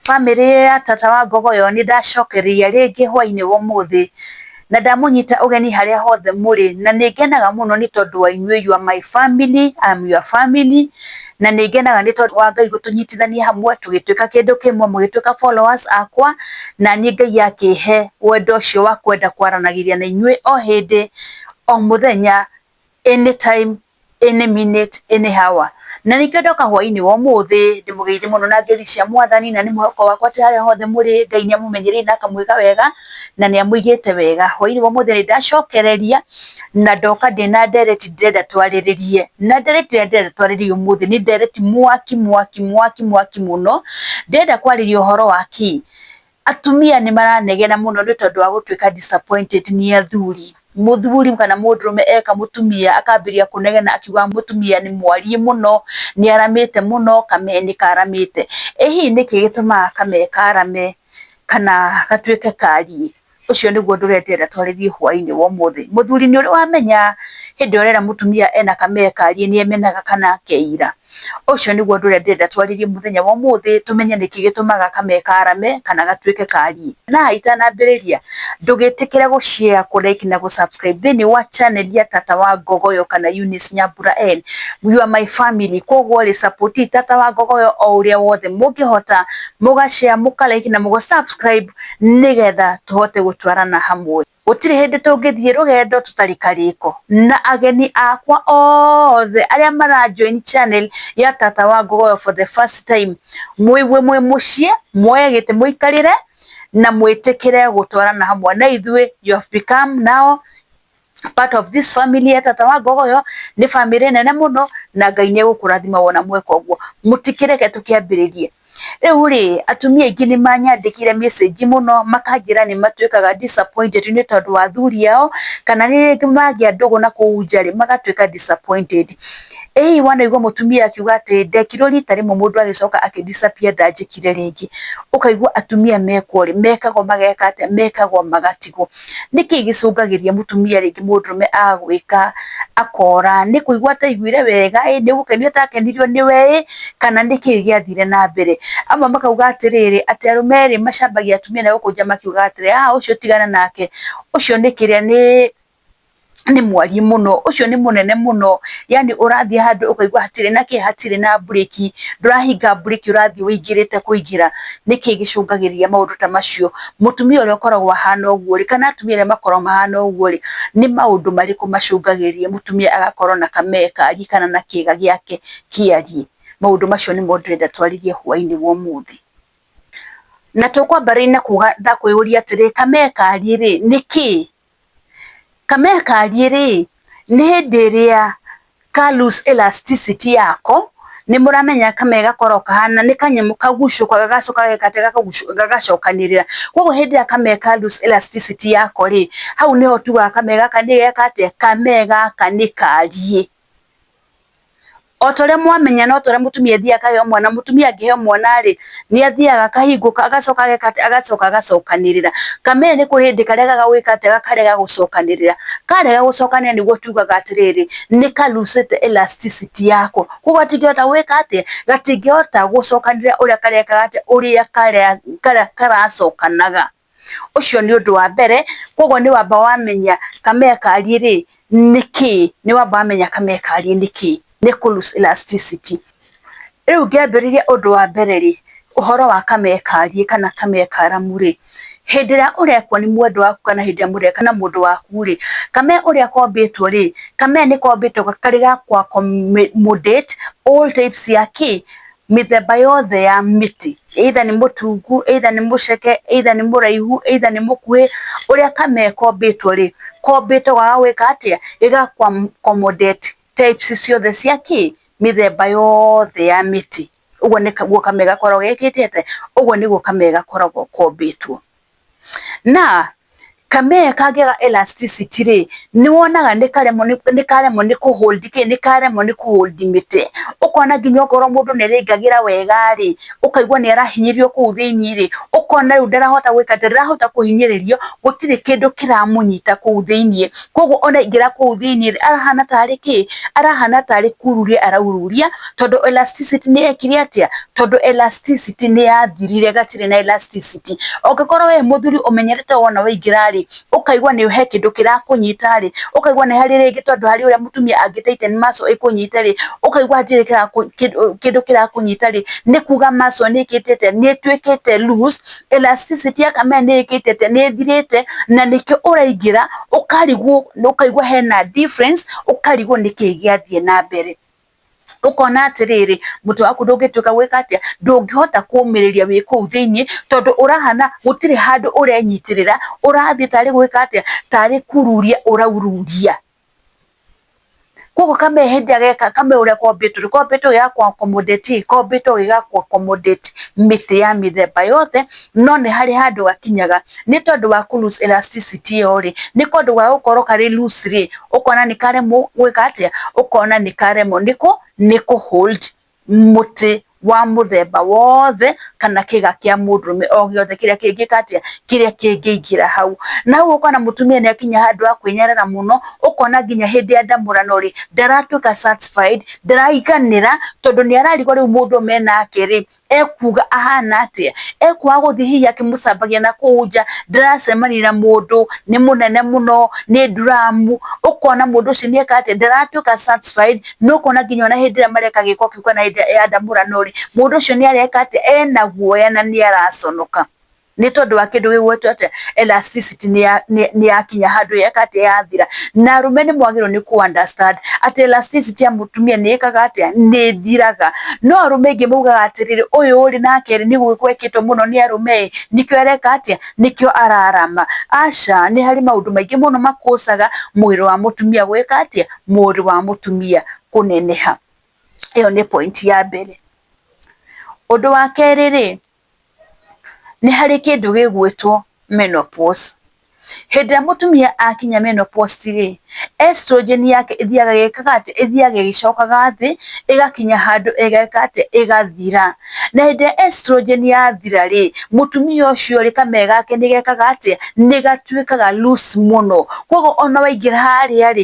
Famĩlĩ ya Tata wa Ngogoyo nĩ ndacokereria rĩngĩ hwaĩ-inĩ wa ũmũthĩ, na ndamũnyita ũgeni harĩa hothe mũrĩ, na nĩ ngenaga mũno nĩ tondũ wa inyuĩ, you are my family, I am your family, na nĩ ngenaga nĩ tondũ wa Ngai gũtũnyitithania hamwe tũgĩtuĩka kĩndũ kĩmwe, mũgĩtuĩka followers akwa, na niĩ Ngai akĩhe wendo ũcio wa kwenda kwaranagĩria na inyuĩ o hĩndĩ, o mũthenya, any time. any minute any hour na nĩkĩo ndoka hwainĩ wa ũmũthĩ ndĩmũgeithie mũno na ngeithi cia mwathani na nĩ mwĩhoko wakwa atĩ harĩa hothe mũrĩ Ngai nĩ amũmenyereire na akamwĩka wega na nĩ amũigĩte wega, hwainĩ wa ũmũthĩ nĩ ndacokereria na ndoka ndĩna ndereti ndĩrenda twarĩrĩrie na ndereti ĩrĩa ndĩrenda twarĩrĩrie ũmũthĩ nĩ ndereti mwaki mwaki mwaki mwaki mũno, ndĩrenda kwarĩrĩria ũhoro wa kĩ? Atumia nĩ maranegena mũno nĩ tondũ wa gũtuĩka disappointed nĩ athuri. Mũthuri kana mũndũrũme eka mũtumia akambĩrĩria kũnegena akiugaga mũtumia nĩ mwariĩ mũno, nĩ aramĩte mũno, kame nĩ karamĩte. Ĩ hihi nĩkĩ gĩtũmaga kame karame kana gatuĩke kariĩ? Ũcio nĩguo ũndũ ũrĩa ndĩrenda twarĩrĩrie hwainĩ wa ũmũthĩ. Mũthuri nĩ ũrĩ wamenya hĩndĩ ĩrĩa ũrera mũtumia ena kame kariĩ nĩ emenaga kana akeira? Ũcio nĩguo ũndũ ũrĩa ndĩrenda twarĩrie mũthenya wa ũmũthĩ, tũmenye nĩkĩ gĩtũmaga kame karame kana gatuĩke kariĩ. Na itanambĩrĩria, ndũgĩtĩkĩre gũ share, kũ like na gũ subscribe thĩiniĩ wa channel ya Tata wa Ngogoyo kana Eunice Nyambura N. You are my family, kũguo rĩ, support i Tata wa Ngogoyo o ũrĩa wothe mũngĩhota, mũga share, mũka like na mũga subscribe nĩgetha tũhote gũtwarana hamwe. Gũtirĩ hĩndĩ tũngĩthiĩ rũgendo tũtarĩ karĩko na ageni akwa othe arĩa mara join channel ya Tata wa Ngogoyo for the first time. Mũigue mwĩ mũciĩ, muoye gĩtĩ mũikarĩre na mwĩtĩkĩre gũtwarana hamwe na ithuĩ. You have become now part of this family ya Tata wa Ngogoyo. Nĩ bamĩrĩ nene mũno na Ngai nĩ egũkũrathima wona mweka ũguo. Mũtikĩreke tũkĩambĩrĩrie. Rĩu rĩ, atumia aingĩ nĩ manyandĩkĩire message mũno makanjĩra nĩ matuĩkaga disappointed nĩ tondũ wa athuri ao, kana rĩrĩa rĩngĩ magĩa ndũgũ na kũu nja rĩ, magatuĩka disappointed. Ĩ hihi wanaigua mũtumia akiuga atĩ ndekirwo rita rĩmwe mũndũ agĩcoka akĩ disappear ndanjĩkire rĩngĩ, ũkaigua atumia mekwo rĩ, mekagwo mageka atĩa, mekagwo magatigwo. Nĩ kĩĩ gĩcũngagĩrĩria mũtumia rĩngĩ mũndũrũme agwĩka akora? Nĩ kũigua ataiguire wega ĩ, nĩ gũkenio atakenirio nĩwe ĩ, kana nĩ kĩĩ gĩathire na mbere? Amwe makauga atĩrĩrĩ, atĩ arũme rĩ, macambagia atumia na gũkũ nja makiugaga atĩrĩ, aah ũcio tigana nake, ũcio nĩ kĩrĩa nĩ nĩ mwariĩ mũno, ũcio nĩ mũnene mũno, yani ũrathiĩ handũ ũkaigwa hatirĩ na kĩĩ, hatirĩ na mburĩki, ndũrahinga mburĩki ũrathiĩ wĩingĩrĩte kũingĩra, nĩkĩ gĩcũngagĩrĩria maũndũ ta macio, mũtumia ũrĩa ũkoragwo ahana ũguo rĩ, kana atumia arĩa makoragwo mahana ũguo rĩ, nĩ maũndũ marĩkũ macũngagĩrĩria mũtumia agakorwo na kamee kariĩ kana na kĩga gĩake kĩariĩ, maũndũ macio nĩmo ndĩrenda twarĩrie hwainĩ wa ũmũthĩ, na tũkwambĩrĩria na kuga na kwĩyũria atĩrĩ, kamee kariĩ rĩ, nĩ kĩĩ? Kamaya kariĩ rĩ, nĩ hĩndĩ ĩrĩa ka loose elasticity yako, nĩ mũramenya kamaya gakoragwo kahana, nĩ kanyamũ kagucũkaga gagacoka gagacokanĩrĩra, koguo hĩndĩ ĩrĩa kamaya ka loose elasticity yako rĩ, hau nĩho tugaga kamaya gaka nĩ geka atĩa, kamaya gaka nĩ kariĩ. O ta ũrĩa mwamenya no ta ũrĩa mũtumia athiaga akaheo mwana, mũtumia angĩheo mwana-rĩ, nĩ athiaga akahingũka, agacoka ageka atĩ, agacoka agacokanĩrĩra. Kameme nĩ kũrĩ hĩndĩ karegaga gwĩka atĩ, gakarega gũcokanĩrĩra. Karega gũcokanĩrĩra nĩguo tugaga atĩrĩrĩ, nĩ ka loose ĩte elasticity yako. Kũguo gatingĩhota gwĩka atĩa? Gatingĩhota gũcokanĩrĩra ũrĩa karekaga atĩa, ũrĩa karacokanaga. ũcio nĩ ũndũ wa mbere, koguo nĩ wamba wamenya kamea kariĩ rĩ, nĩ kĩĩ, nĩ wamba wamenya kamea kariĩ nĩ kĩĩ, nĩ kũ loose elasticity. Rĩu ngĩambĩrĩria ũndũ wa mbere rĩ, ũhoro wa kamea kariĩ kana kamea karamu rĩ, hĩndĩ ĩrĩa ũrekwo nĩ mwendwa waku kana hĩndĩ ĩrĩa mũreka na mũndũ waku rĩ, kamea ũrĩa kombĩtwo rĩ, kamea nĩ kombĩtwo karĩ ga kũ accommodate all types cia kĩ, mĩthemba yothe ya mĩtĩ either nĩ mũtungu, either nĩ mũceke, either nĩ mũraihu, either nĩ mũkuhĩ, ũrĩa kana ĩkombĩtwo rĩ, kombĩtwo ga gwĩka atĩa, gĩga kũ accommodate types ciothe cia kĩ, mĩthemba yothe ya mĩtĩ, ũguo nĩguo kameme gakoragwo gekĩte atĩa, ũguo nĩguo kameme gakoragwo kombĩtwo. na kamee kagĩa elasticity rĩ, nĩ wonaga nĩ karemwo nĩ karemwo nĩ kũ hold kĩ, nĩ karemwo nĩ kũ hold mĩtĩ. Ũkona nginya okorwo mũndũ nĩ arĩingagĩra wega rĩ, ũkaigua nĩ arahinyĩrĩrio kũu thĩiniĩ rĩ, ũkona rĩu ndarahota gwĩka atĩ, ndarahota kũhinyĩrĩrio, gũtirĩ kĩndũ kĩramũnyita kũu thĩiniĩ. Kũguo ona aingĩra kũu thĩiniĩ rĩ, arahana tarĩ kĩ? Arahana tarĩ kururia araururia. tondũ elasticity nĩ yekire atĩa? Tondũ elasticity nĩ yathirire, gatirĩ na elasticity. Ũngĩkorwo wĩ mũthuri ũmenyerete wona waingĩra rĩ, ũkaigua nĩ he kĩndũ kĩrakũnyita rĩ, ũkaigua nĩ harĩ rĩngĩ tondũ harĩ ũrĩa mũtumia angĩ titan muscle ĩkũnyite rĩ, ũkaigua hatirĩ kĩndũ kĩrakũnyita rĩ, nĩ kuga muscle nĩ ĩkĩte atĩa? Nĩ ĩtuĩkĩte loose, elasticity ya kamere nĩ ĩkĩte atĩa? Nĩ ĩthirĩte, na nĩkĩo ũraingĩra ũkarigwo, ũkaigua hena difference, ũkarigwo nĩkĩ gĩathiĩ na mbere. ũkona atĩrĩrĩ mũtĩ waku ndũngĩtuĩka gwĩka atĩa, ndũngĩhota kũmĩrĩria wĩ kũu thĩiniĩ, tondũ ũrahana gũtirĩ handũ ũrenyitĩrĩra, ũrathiĩ tarĩ gwĩka atĩa, tarĩ kururia ũraururia. Koguo kamee hĩndĩ ĩrĩa geka, kamee ũrĩa kombĩtwo rĩ, kombĩtwo gĩ ga kũ accommodate ĩ, kombĩtwo gĩ ga kũ accommodate mĩtĩ ya mĩthemba yothe, no nĩ harĩ handũ gakinyaga. nĩ tondũ wa kũ loose elasticity ĩyo rĩ, nĩ tondũ wa gũkorwo karĩ loose rĩ, ũkona nĩ karemwo gwĩka atĩa? Ũkona nĩ karemwo nĩ kũ hold mũtĩ wa mũthemba wothe kana kĩga kĩa mũndũrũme o gĩothe kĩrĩa kĩngĩka atĩa? Kĩrĩa kĩngĩingĩra hau. Na rĩu ũkona mũtumia nĩ akinya handũ ha kwĩnyarara mũno, ũkona nginya hĩndĩ ya ndamũrano rĩ, ndaratuĩka satisfied, ndaraiganĩra tondũ nĩ ararigwo rĩu mũndũ ũyũ menake rĩ, ekuuga ahana atĩa, ekwaga gũthiĩ hihi akĩmũcambagia na kũu nja, ndaracemania na mũndũ, nĩ mũnene mũno, nĩ nduramu, ũkona mũndũ ũcio nĩ eka atĩa, ndaratuĩka satisfied, na ũkona nginya ona hĩndĩ ĩrĩa mareka gĩko kĩu kana hĩndĩ ĩrĩa ya ndamũrano rĩ, mũndũ ũcio nĩ areka atĩa, ena guoya na nĩ araconoka. nĩ tondũ wa kĩndũ gĩgwĩtwo atĩa elasticity nĩ ya nĩ nĩ yakinya handũ yeka atĩa yathira na arũme nĩ mwagĩrĩirwo nĩ kũ understand atĩ elasticity ya mũtumia nĩ ĩkaga atĩa nĩ ĩthiraga no arũme aingĩ maugaga atĩrĩrĩ ũyũ ũrĩ nake nĩ gwĩkwo ekĩtwo mũno nĩ arũme ĩ nĩkĩo areka atĩa nĩkĩo ararama aca nĩ harĩ maũndũ maingĩ mũno ma cause aga mwĩrĩ wa mũtumia gwĩka atĩa mwĩrĩ wa mũtumia kũneneha ĩyo nĩ point ya mbere ũndũ wa kerĩ rĩ nĩ harĩ kĩndũ gĩgwĩtwo menopause. Hĩndĩ ĩrĩa mũtumia akinya menopause rĩ, estrogen yake ĩthiaga ĩgĩkaga atĩ, ĩthiaga ĩgĩcokaga thĩ, ĩgakinya handũ ĩgeka atĩa, ĩgathira. Na hĩndĩ ĩrĩa estrogen yathira rĩ, mũtumia ũcio rĩ, kameme gake nĩ gekaga atĩa, nĩ gatuĩkaga loose mũno. Kũguo ona waingĩra harĩa rĩ,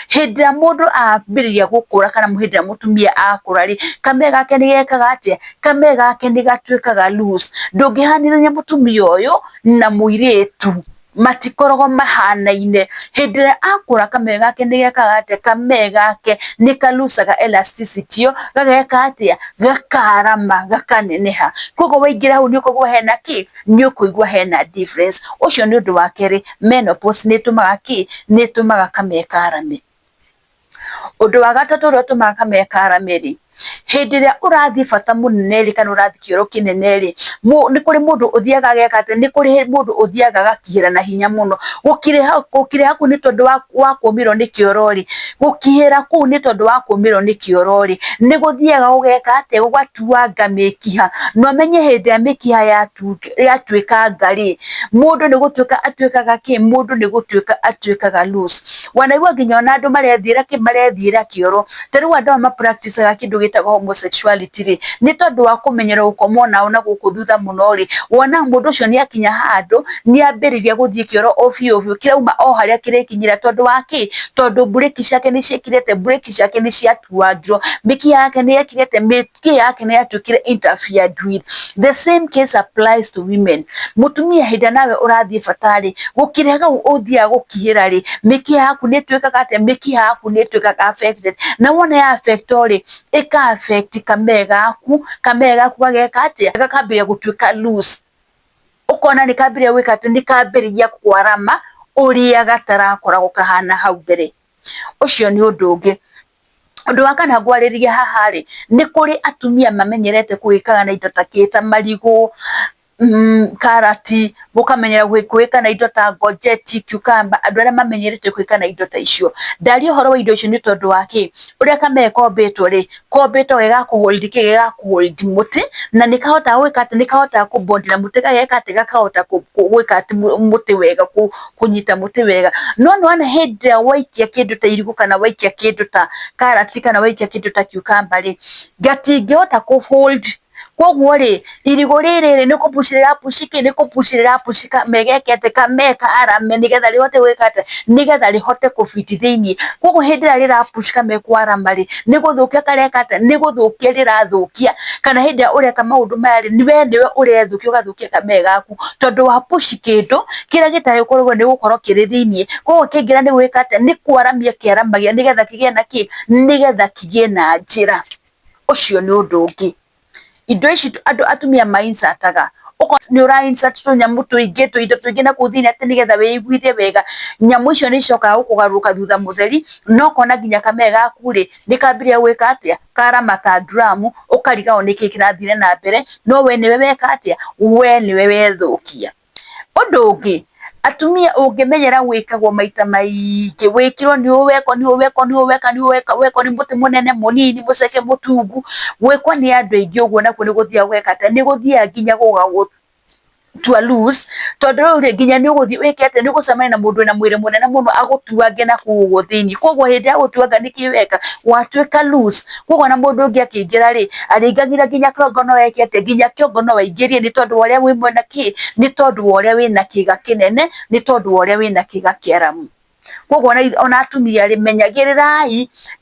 hĩndĩ ĩrĩa mũndũ ambĩrĩria gũkũra kana hĩndĩ ĩrĩa mũtumia akũra rĩ, kamere gake nĩ gekaga atĩa? Kamere gake nĩ gatuĩkaga loose. Ndũngĩhanĩrĩria mũtumia ũyũ na mũirĩtu, matikoragwo mahanaine. Hĩndĩ ĩrĩa akũra kamere gake nĩ gekaga atĩa? Kamere gake nĩ ka loose aga elasticity ĩyo, gageka atĩa? Gakarama, gakaneneha. Kũguo waingĩra hau nĩ ũkoraga hena kĩ? nĩ ũkũigua hena difference. Ũcio nĩ ũndũ wa kerĩ, menopause nĩ ĩtũmaga kĩ? Nĩ ĩtũmaga kamee karame. Ũndũ wa gatatũ ũrĩa ũtũmaga kamee karame rĩ, hĩndĩ ĩrĩa ũrathiĩ bata mũnene rĩ, kana ũrathiĩ kĩoro kĩnene rĩ, nĩ kũrĩ mũndũ ũthiaga ageka atĩ, nĩ kũrĩ mũndũ ũthiaga agakĩra na hinya mũno. Gũkirĩha kũu nĩ tondũ wa kũũmĩrwo nĩ kĩoro rĩ. gũkinyĩra kũu nĩ tondũ wa kũmĩrwo nĩ kĩoro rĩ, nĩ gũthiaga gũgeka atĩa, gũgatuanga mĩkiha, na ũmenye hĩndĩ ĩrĩa mĩkiha yatuĩkanga rĩ, mũndũ nĩ gũtuĩka atuĩkaga kĩ, mũndũ nĩ gũtuĩka atuĩkaga loose. Wanaigua nginya ona andũ marethiĩra kĩ, marethiĩra kĩoro. Ta rĩu andũ aya ma practice aga kĩndũ gĩtagwo homosexuality rĩ, nĩ tondũ wa kũmenyera gũkoma o nao na gũkũ thutha mũno rĩ, wona mũndũ ũcio nĩ akinya handũ... nĩ ambĩrĩria gũthiĩ kĩoro o biũ biũ kĩrauma o harĩa kĩrĩkinyire, tondũ wa kĩ? Tondũ mburĩki ciake nĩ ciekire atĩa? Mburĩki ciake nĩ ciatuangirwo, mĩkiha yake nĩ yekire atĩa? Mĩkiha yake nĩ yatuĩkire interfered with. The same case applies to women. Mũtumia hĩndĩ ĩrĩa nawe ũrathiĩ bata rĩ, gũkĩrĩa hau ũthiaga gũkihĩra rĩ, mĩkiha yaku nĩ ĩtuĩkaga atĩa? Mĩkiha yaku nĩ ĩtuĩkaga affected. Na wona ya affectwo rĩ, ĩka affect kamee gaku, kamee gaku gageka atĩa? Gakambĩrĩria gũtuĩka loose. ũkona nĩ kambĩrĩria gwĩka atĩ nĩ kambĩrĩria kwarama ũrĩa gatarakoragwo kahana hau mbere. Ũcio nĩ ũndũ ũngĩ. Ũndũ wa kana ngwarĩrĩria haha rĩ, nĩ kũrĩ atumia mamenyerete kũĩkaga na indo ta kĩĩ, ta marigũ, karati, ũkamenyera kũĩka na indo ta ngonjeti, cucumber, andũ arĩa mamenyerete kũĩka na indo ta icio. Ndaria ũhoro wa indo icio nĩ tondũ wa kĩĩ, ũrĩa kamere kombĩtwo rĩ, Kobĩta ũgeka kũgũithia kĩĩ gĩga kũgũithia mũtĩ na nĩ kahota gwĩka atĩ nĩ kahota kũbondera mũtĩ gageka atĩ gakahota gwĩka atĩ mũtĩ wega kũnyita mũtĩ wega. No nĩ wona hĩndĩ ĩrĩa waikia kĩndũ ta irigũ kana waikia kĩndũ ta karati kana waikia kĩndũ ta cucumber rĩ gatingĩhota kũ hold koguo rĩ irigũ rĩrĩ rĩ nĩ kũbuci rĩrabuci kĩ nĩ kũbuci rĩrabuci kame geke atĩ kame karame nĩgetha rĩhote gwĩka atĩ nĩgetha rĩhote kũ fit thĩiniĩ koguo hĩndĩ ĩrĩa rĩrabuci kame kwarama rĩ nĩ gũthũkia kareka atĩ nĩ gũthũkia rĩrathũkia kana hĩndĩ ĩrĩa ũreka maũndũ maya rĩ we nĩwe ũrethũkia ũgathũkia kame gaku tondũ wa buci kĩndũ kĩrĩa gĩtagĩkoragwo nĩ gũkorwo kĩrĩ thĩiniĩ koguo kĩngĩra nĩ gwĩka atĩ nĩ kwaramia kĩaramagia nĩgetha kĩgĩe na kĩ nĩgetha kĩgĩe na njĩra. ũcio nĩ ũndũ ũngĩ. Indo ici andũ atumia ma insert aga, okorwo nĩ ũra insert tũnyamũ tũingĩ, tũindo tũingĩ na kũu thĩiniĩ atĩ nĩgetha wĩiguithie wega, nyamũ icio nĩ icokaga gũkũgarũrũka thutha mũtheri, na ũkona nginya kamee gaku rĩ, nĩ kambĩrĩria gwĩka atĩa, karamata nduramu, ũkariganĩrwo nĩkĩ kĩrathire na mbere, no we nĩwe weka atĩa, we nĩwe wethũkia. Ũndũ ũngĩ, atumia ũngĩmenyera gwĩkagwo maita maingĩ, gwĩkĩrwo nĩ ũweka, nĩ ũweka, nĩ ũweka, nĩ ũweka, wekwo nĩ mũtĩ mũnene, mũnini, mũceke, mũtungu, gwĩkwo nĩ andũ aingĩ ũguo nakuo nĩ gũthiaga gũgeka atĩa, nĩ gũthiaga nginya gũgagũtua loose, tondũ rĩu rĩ, nginya nĩ ũgũthiĩ wĩke atĩa, nĩ ũgũcemania na mũndũ wĩna mwĩrĩ mũnene mũno agũtuange nakũu ũguo thĩiniĩ. Kũguo hĩndĩ ya gũgũtuanga nĩkĩ weka? Watuĩka loose. Kwa ũguo ona mũndũ ũngĩ akĩingĩra rĩ, arĩingagĩra nginya kĩongo no eke atĩ, nginya kĩongo no aingĩrie nĩ tondũ wa ũrĩa wĩ mwena kĩ, nĩ tondũ wa ũrĩa wĩna kĩga kĩnene, nĩ tondũ wa ũrĩa wĩna kĩga kĩaramu. Kwa ũguo ona atumia rĩ, menyagĩrĩrai,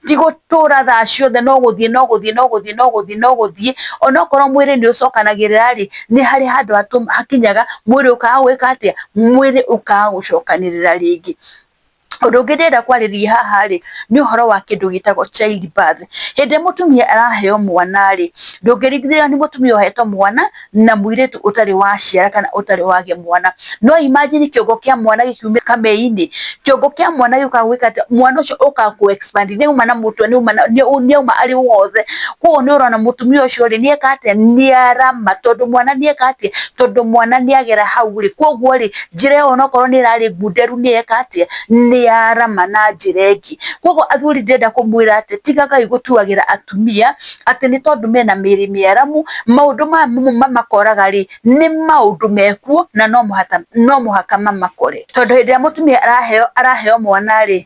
ti gũtũra thaa ciothe no gũthiĩ no gũthiĩ no gũthiĩ no gũthiĩ no gũthiĩ. Ona okorwo mwĩrĩ nĩ ũcokanagĩrĩra rĩ, nĩ harĩ handũ hakinyaga mwĩrĩ ũkaga gwĩka atĩa? Mwĩrĩ ũkaga gũcokanĩrĩra rĩngĩ. Ũndũ ũngĩ ndĩrenda kwarĩrĩria haha rĩ, nĩ ũhoro wa kĩndũ gĩtagwo child birth. Hĩndĩ ĩrĩa mũtumia araheo mwana rĩ, ndũngĩringithia nĩ mũtumia ũhetwo mwana na mũirĩtu ũtarĩ waciara kana ũtarĩ wagĩa mwana. No imagine kĩongo kĩa mwana gĩkiumĩra kamei-inĩ, kĩongo kĩa mwana gĩũkaga gwĩka atĩa? Mwana ũcio ũkaga kũ. Nĩ ũma na mũtwe nĩ ũma na nĩ ũma arĩ wothe. Koguo nĩ ũrona mũtumia ũcio rĩ, nĩ eka atĩa? Nĩ arama tondũ mwana nĩ eka atĩa? Tondũ mwana nĩ agera hau rĩ, koguo rĩ, njĩra ĩyo onakorwo nĩ ĩrarĩ ngunderu nĩ eka atĩa? Nĩ arama na njĩra ĩngĩ. Koguo athuri ndĩrenda kũmwĩra atĩ tigagai gũtuagĩra atumia atĩ nĩ tondũ mena mĩĩrĩ mĩaramu, maũndũ maya mamakoraga rĩ, nĩ maũndũ me kuo na no mũhaka mamakore. Tondũ hĩndĩ ĩrĩa mũtumia araheo araheo mwana rĩ,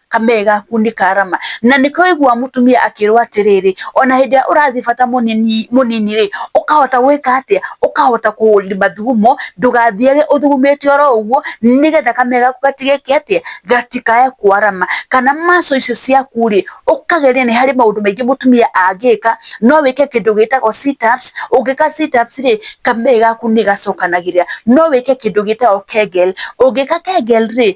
kamee gaku nĩ karama, na nĩ kũigua mũtumia akĩrwo atĩrĩrĩ, ona hĩndĩ ĩrĩa ũrathiĩ bata mũnini mũnini rĩ, ũkahota gwĩka atĩa, ũkahota kũmathugumo, ndũgathiage ũthugumĩte oro ũguo, nĩgetha kamee gaku gatigeke atĩa, gatikae kwarama, kana muscle icio ciaku rĩ, ũkageria nĩ harĩ maũndũ maingĩ mũtumia angĩka, no wĩke kĩndũ gĩtagwo sit ups, ũngĩka sit ups rĩ, kamee gaku nĩ gacokanagĩrĩra, no wĩke kĩndũ gĩtagwo kegel, ũngĩka kegel rĩ,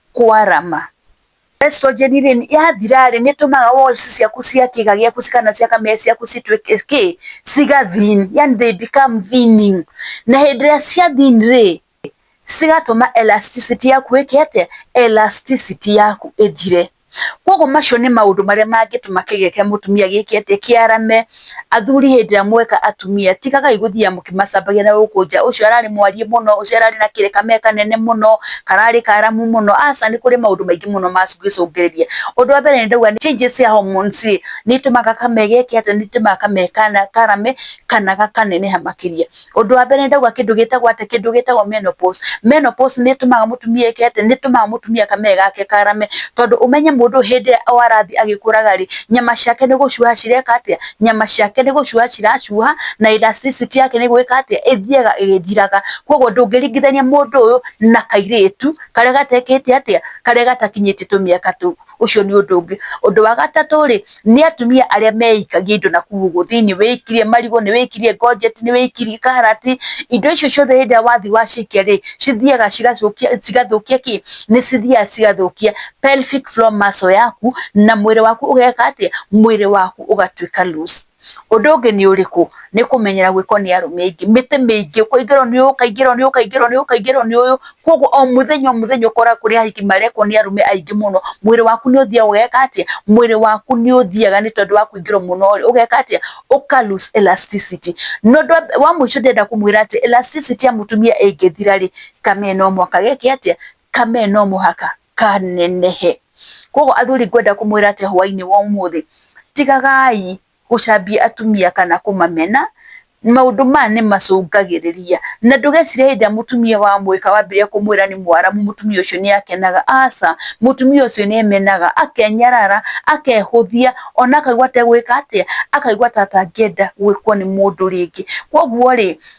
kwarama estrogen rĩ yathira rĩ nĩ tũmaga walls ciaku cia kĩga gĩaku kana cia kamere ciaku cituĩke kĩ ciga thin yani they become thinning na hĩndĩ ĩrĩa cia thin rĩ cigatũma elasticity yaku ĩke atĩa elasticity yaku ĩthire, koguo macio nĩ maũndũ marĩa mangĩtũma kĩga kĩa mũtumia gĩke atĩa kĩarame. athuri hĩndĩ ĩrĩa mweka atumia ti kaka gũthiaga mũkĩmacambagia na gũkũ nja ũcio ararĩ mwariĩ mũno, ũcio ararĩ na kamee kanene mũno, kararĩ karamu mũno, aca nĩ kũrĩ maũndũ maingĩ mũno mangĩcũngĩrĩria. Ũndũ wa mbere nĩ ndauga nĩ changes cia hormones rĩ, nĩ itũmaga kamee geke atĩ, nĩ itũmaga kamee karame kana gakaneneha makĩria. ũndũ wa mbere ndauga kĩndũ gĩtagwo atĩ kĩndũ gĩtagwo menopause. Menopause nĩ ĩtũmaga mũtumia eke atĩ nĩ ĩtũmaga mũtumia kamere gake karame, tondũ ũmenye mũndũ hĩndĩ ĩrĩa o arathiĩ agĩkũraga rĩ, nyama ciake nĩ gũcuha cireka atĩa, nyama ciake nĩ gũcuha ciracuha, na elasticity yake nĩ gwĩka atĩa, ĩthiaga ĩgĩthiraga. Koguo ndũngĩringithania mũndũ ũyũ na kairĩtu karĩa gatekĩte atĩa, karĩa gatakinyĩtie tũmĩaka tũu. ũcio nĩ ũndũ ũngĩ. Ũndũ wa gatatũ rĩ, nĩ atumia arĩa meikagia indo nakũu ũguo thĩiniĩ, wĩikirie marigũ, nĩ wĩikirie ngonjeti, nĩ wĩikirie karati, indo icio ciothe hĩndĩ ĩrĩa wathiĩ wacikia rĩ, cithiaga cigacũkia cigathũkia kĩ? Nĩ cithiaga cigathũkia pelvic floor muscle yaku, na mwĩrĩ waku ũgeka atĩa? Mwĩrĩ waku ũgatuĩka loose. ũndũ ũngĩ nĩ ũrĩkũ, nĩ kũmenyera gwĩkwo nĩ arũme aingĩ, mĩtĩ mĩingĩ, kũingĩrwo nĩ ũyũ, ũkaingĩrwo nĩ ũyũ, ũkaingĩrwo nĩ ũyũ, ũkaingĩrwo nĩ ũyũ, koguo o mũthenya o mũthenya ũkoraga kũrĩ ahiki marekwo nĩ arũme aingĩ mũno, mwĩrĩ waku nĩ ũthiaga ũgeka atĩa, mwĩrĩ waku nĩ ũthiaga nĩ tondũ wa kũingĩrwo mũno rĩ, ũgeka atĩa, ũka loose elasticity na ũndũ wa mũico ndĩrenda kũmwĩra atĩ elasticity ya mũtumia ĩngĩthira rĩ, ka men no mũhaka geke atĩa, ka men no mũhaka. ka nenehe. Koguo athuri ngwenda kũmwĩra atĩ hwainĩ wa ũmũthĩ, tigagai gũcambia atumia kana kũmamena, maũndũ maya nĩ macũngagĩrĩria. Na ndũgecirĩa hĩndĩ ĩrĩa mũtumia wa mũgĩka wambire kũmwĩra nĩ mwaramu mũtumia ũcio nĩ akenaga, aca. Mũtumia ũcio nĩ emenaga, akenyarara, akehũthia, ona akaigua ta egwĩka atĩa, akaigua ta atangĩenda gwĩkwo nĩ mũndũ rĩngĩ. Koguo rĩ,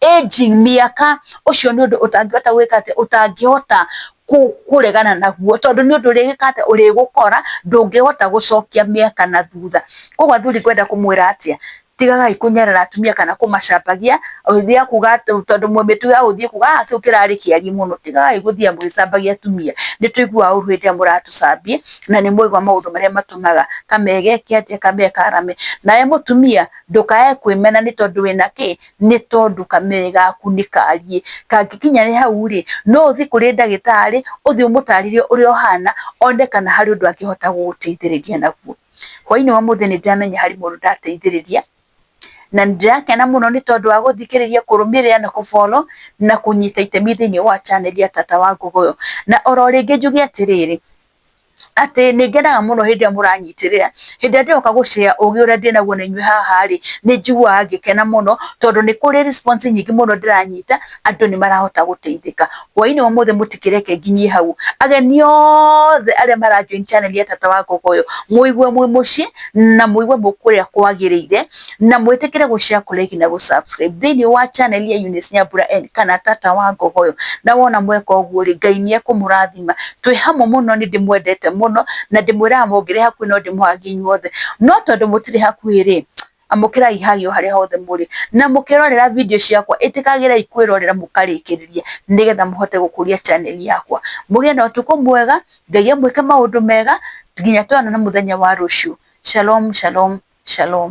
mĩaka ũcio nĩ ũndũ ũtangĩhota gwĩka atĩ, ũtangĩhota kũregana naguo tondũ nĩ ũndũ ũrĩgĩka atĩ, ũrĩgũkora ndũngĩhota gũcokia mĩaka na thutha. Kũguo athuri ngwenda kũmwĩra atĩa, tigagai kũnyarara atumia kana kũmacambagia, ũgĩthiĩ kuuga atĩ tondũ mĩtugo ya gũthiĩ kuuga aah kĩu kĩrarĩ kĩarie mũno. Tigagai gũthiaga mũgĩcambagia atumia. Nĩ tũiguaga ũũru hĩndĩ ĩrĩa mũratũcambia na nĩ mwaigua maũndũ marĩa matũmaga kamegeke atĩa, kamekaarame. Nawe mũtumia ndũkae kwĩmena nĩ tondũ wĩna kĩ? nĩ tondũ kamega gaku nĩ kariĩ, kangĩkinya nĩ hau rĩ, no ũthiĩ kũrĩ ndagĩtarĩ, ũthiĩ ũmũtarĩrie ũrĩa ũhana, one kana harĩ ũndũ angĩhota gũgũteithĩrĩria naguo. Hwainĩ wa ũmũthĩ nĩ ndĩramenya harĩ mũndũ ndateithĩrĩria, na nĩ ndĩrakena mũno nĩ tondũ wa gũthikĩrĩria, kũrũmĩrĩra na kũ follow na kũnyita itemi thĩiniĩ wa channel ya Tata wa Ngũgũyũ. Na oro rĩngĩ njuge atĩrĩrĩ, atĩ nĩ ngenaga mũno hĩndĩ ĩrĩa mũranyitĩrĩra. Hĩndĩ ĩrĩa ndĩroka gũ share ũgĩ ũrĩa ndĩ naguo na inyuĩ haha rĩ, nĩ njiguaga ngĩkena mũno tondũ nĩ kũrĩ response nyingĩ mũno ndĩranyita, andũ nĩ marahota gũteithĩka. Hwainĩ wa ũmũthĩ mũtikĩreke nginyie hau, ageni othe arĩa mara join channel ya Tata wa Ngogoyo, mũigue mwĩ mũciĩ na mũigue mwĩ kũrĩa kwagĩrĩire, na mwĩtĩkĩre gũ share, kũ like na gũ subscribe thĩinĩ wa channel ya Eunice Nyambura and kana Tata wa Ngogoyo. Na wona mweka ũguo rĩ, Ngai nĩ ekũmũrathima twĩ hamwe mũno nĩ ndĩmwendete mũno na ndĩmwĩraga mũngĩrĩ hakuhĩ no ndĩmũhagie inyuothe no tondũ mũtirĩ hakuhĩ rĩ amũkĩrai hagi o harĩa hothe mũrĩ na mũkĩrorera video ciakwa ĩtĩkagĩrai kwĩrorera mũkarĩkĩrĩria nĩgetha mũhote gũkũria channel yakwa mũgĩe na ũtukũ mwega Ngai amwĩke maũndũ mega nginya tuonane mũthenya wa rũciũ shalom shalom shalom